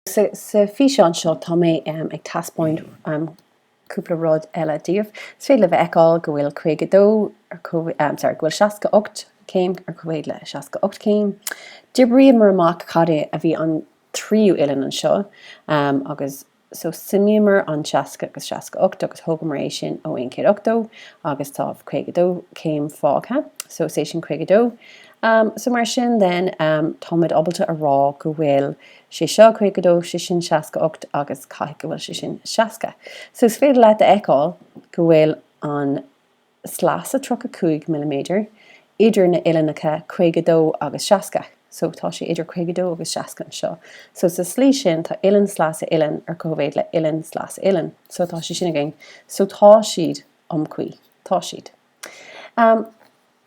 Sa bhfíseán seo tá mé ag teaspáint cúpla rud eile daoibh. Is féidir libh a fheiceáil go bhfuil 52 ar comhéadan, sorry, go bhfuil 68 céim ar cóimhéid le 68 céim. D'oibríomar amach cad é a bhí an tríú uillinn anseo agus so suimíomar an 60 agus an 68 agus thógamar é sin ó aon 180 agus tá 52 céim fágtha, so is é sin 52. So mar sin then táimid ábalta a rá go bhfuil. sé seo, caoga a dó, sé sin, seasca a ocht agus caithfidh go bhfuil sé sin, seasca. So is féidir leat a fheiceáil go bhfuil an sleasa tríocha cúig milliméadar idir na uillinneacha caoga a dó agus seasca. So tá sé idir caoga a dó agus seasca anseo. So sa slí sin tá uillinn, sleasa, uillinn ar cóimhéid le uillinn, sleasa, uillinn. So tá sé sin againn. So tá siad iomchuí. Tá siad.